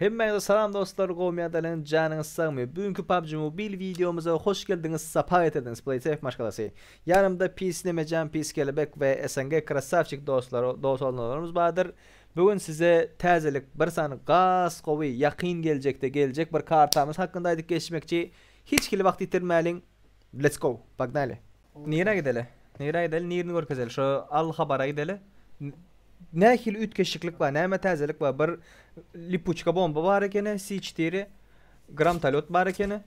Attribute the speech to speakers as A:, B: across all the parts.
A: Hemmäňize salam dostlar gowmyat elen janyňyz sagmy bu günki PUBG Mobile wideomyza hoş geldiňiz sapa getirdiňiz Playsafe maşgalasy ýanymda pis Nemejan pis Kelebek we SNG Krassavçik dostlar dos olnalarymyz bardyr bu gün size täzelik bir san gas gowy ýakyn geljekde geljek bir kartamyz hakynda aýdyp geçmekçi hiç hili wagt ýitirmäliň let's go pognaly. Nirä gideli? Nirä gideli? Nirini görkezeli? Şo Al Habara gideli. Nähili üýtgeşiklik bar? Näme täzelik bar? Bir lipuçka bomba bar ekeni, C4 gramtalot bar ekeni.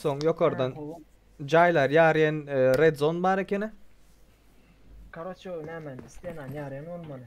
A: Soň ýokardan jaýlar ýarýan e, red zone bar ekeni.
B: Karoço nämen islenan ýarýan bolmaly.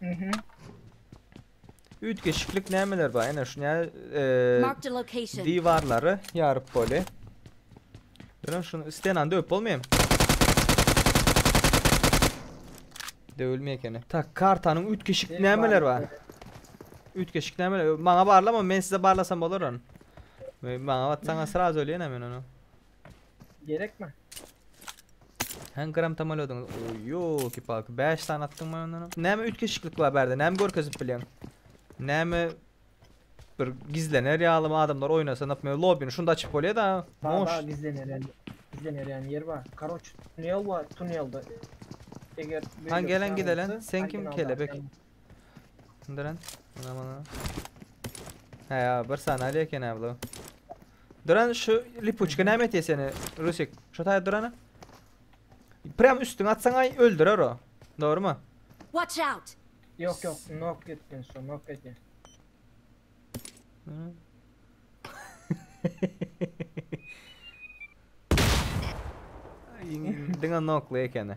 A: Mhm. Üýtgeşiklik nämeler bar? Ene şuny eee Marked a location. diwarlary ýaryp boli. Görün şunu istenany döwüp bolmaýam. Döwülmeýär ekeni. Tak, kartanyň üýtgeşik Benim nämeler bar? barlykda. Üýtgeşik nämeler? Maňa barlama, men size barlasam bolar ony. Me- Maňa atsaňa sraz ölýän men ony.
B: Gerekmi?
A: Hän gram tamalodyňyz. Oy yoki palki. 5 sany atdyň men ondan. Näme üýtgeşiklik bar bärde? Näme görkezip bilýäň? Näme bir gizlener ýalymy adamlar oýnasa nap men lobbyny şunda açyp bolýar da. Moş. Gizlener ýaly. Gizlener ýaly
B: ýer bar. Karoç tunel bar tunelde. Eger Han gelen
A: gidelen sen kim kelebek. Duran. Ana mana. Ha ya bir sanaly eken ha bu. Duran şu lipuçka näme etiyor seni Rusik? Şu taýda durana. Prem üstüne atsan ay öldürer o. Doğru mu? Watch out!
C: Yok yok
B: nok gittin şu nok
A: gittin. Dine noklu ekeni.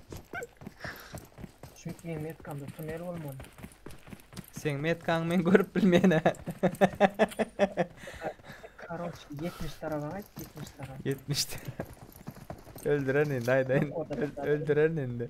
B: Şu men metkamda tunel bolmaly.
A: Seň metkaňy men görüp bilmeýän-ä.
B: Karoç 70 taraba gaýt 70 taraba. 70 tane.
A: Öldüren indi aýdaýyn. Yok, o da Öl- kapalı. Öldüren indi.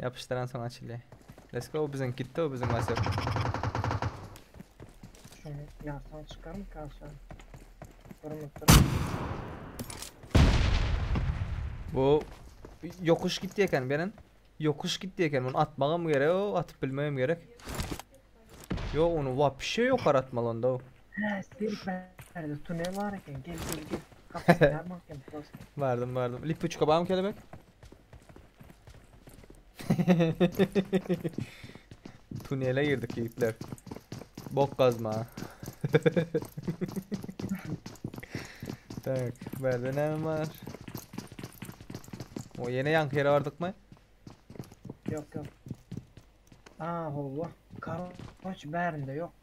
A: Ýapyşdyran soň açylýar. Let's go biziň gitdi o biziň Wasyok. Şony ýarsaň çykarmyka
B: aşa? Durmup durmup.
A: Bu ýokuş gitdi eken beren. Ýokuş gitdi eken. Muny atmagam gerek, o atyp bilmegem gerek. Yo onu wapşe ýokary atmaly onda. o. Hä, serik
B: bärde tunel bar eken. Gel gel gel. Kapysyny ýarmak hem prosta. Bardım bardım. Lipuçka
A: barmy kelebek? Tunele girdik ýigitler. Bok gazma. tak, berde näme bar? O ýene ýaňky ýere bardykmy?
B: Yok yok. Aa hova. Karoç bärinde yok.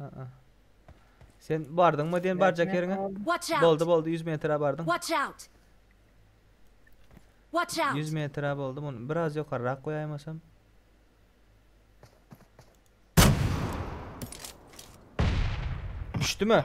A: Aa. Sen bardyňmy diýen barjak ýeriňe? Watch out! Boldy boldy
C: 100 metre bardyň.
A: Watch out!
C: Watch 100 out! metre boldy.
A: Muny biraz ýokarrak goýaýmasam. Düşdümi?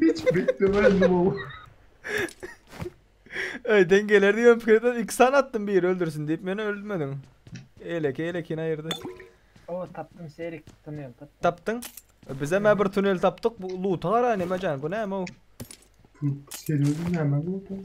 D: Hiç beklemändim ow.
A: Öýden geler diýen pikirden iki sany atdym biri öldürsin diýip meni öldürmediň. Eýleki eýlekini aýyrdy. Ow tapdym
B: serik tunel tapdym. Tapdyň?
A: Bizem ä bir tunel tapdyk. Bu luta garaý neme jan bu näme ow.
D: Serweriň nämäni ow.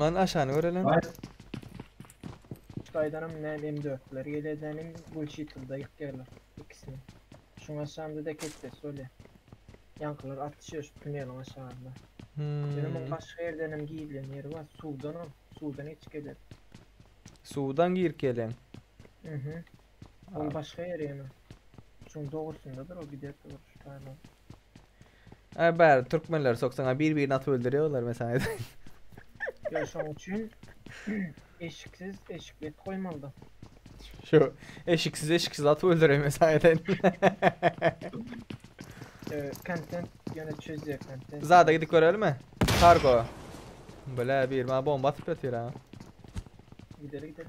A: Lan aşany görelen.
D: Ay.
B: Şaýdanam näm M4'leri gelýärdi näm Gulşitilda ýykýarlar ikisini. Şuň aşagynda dek etpesi bolýar. Ýaňkylar atyşýar şu tuneliň aşagynda. Ýöne muň Hmm. başga ýerdenem gizlen ýeri bar. Suwdanam, suwdan geçip geler. Suwdan
A: girip gelen. Mhm.
B: Ol başga ýeri ýöne. Şuň dogrusyndadyr o giderdi bir şu taýdan.
A: Ay bari Türkmenler sok sana bir birini atıp öldürüyorlar ben sana edeyim.
B: Yo şoň üçin eşiksiz eşikli et goýmalyda.
A: Şu eşiksiz eşiksiz atıp öldüreyim ben sana edeyim.
B: Ee, Content ýöne çözýär content. Zada gidip görelim mi?
A: Kargo. Bile bir bana bomba atıp ötüyor ha.
B: Gideli gideli.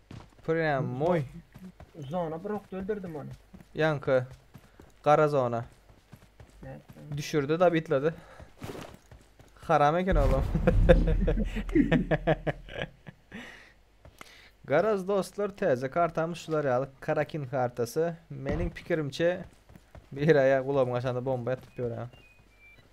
A: Prýamoý. Zona bir
B: ok öldürdim ony. Ýaňky
A: gara zona. Nätdi.
B: Düşürdi da
A: bitledi. Haram eken olam. Garaz dostlar täze kartamyz şular ýaly Karakin kartasy. Meniň pikirimçe bir aýa gulagyma şanda bomba atyp ýören.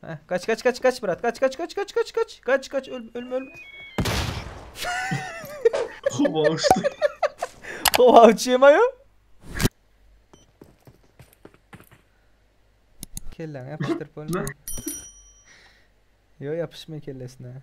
A: Heh, kaç kaç kaç kaç brat. Kaç kaç kaç kaç kaç kaç. Kaç kaç öl, ölme ölme.
D: Howa uçtu. Hova
A: uçuyorum ayo. Kellen yapıştırıp ölme. Yo yapışma kellesine.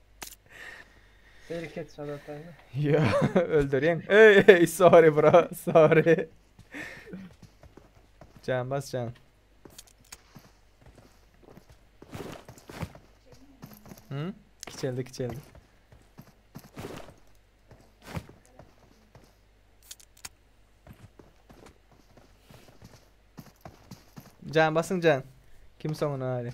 B: Bereket sana atayna. Yo,
A: öldüreyim. Ey, ey, sorry bro, sorry. Can bas can. Hı? Kiçeldi, kiçeldi. Can basın can. Kim sonuna hadi.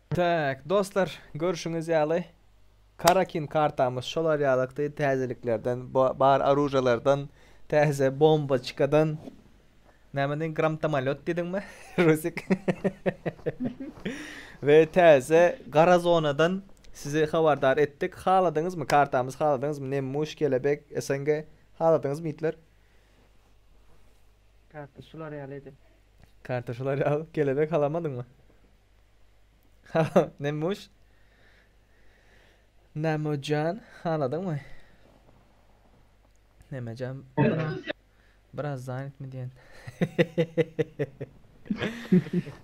A: Tak, dostlar, görşüňiz ýaly, Karakin kartamyz şolar ýalykdy, täzeliklerden, bar oružýalardan, täze bomboçkadan, näme diýdiň, gramtomolýot diýdiňmi, Rusik? we täze gara zonadan sizi habardar etdik. Haladyňyzmy kartamyzy, haladyňyzmy, Nemmuş, Kelebek, SNG, haladyňyzmy, ýigitler?
B: Karta şular ýalydy. Karta şular
A: ýaly, Kelebek, halamadyňmy? Nemuş. Nemojan haladyňmy? Nemejan biraz, biraz zanitmi diýen.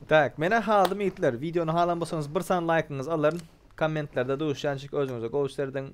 A: tak, mena haladym ýigitler. Wideony halan bolsaňyz bir san laýkyňyzy alaryn. Kommentlerde duşýançyk özüňize gowy serediň.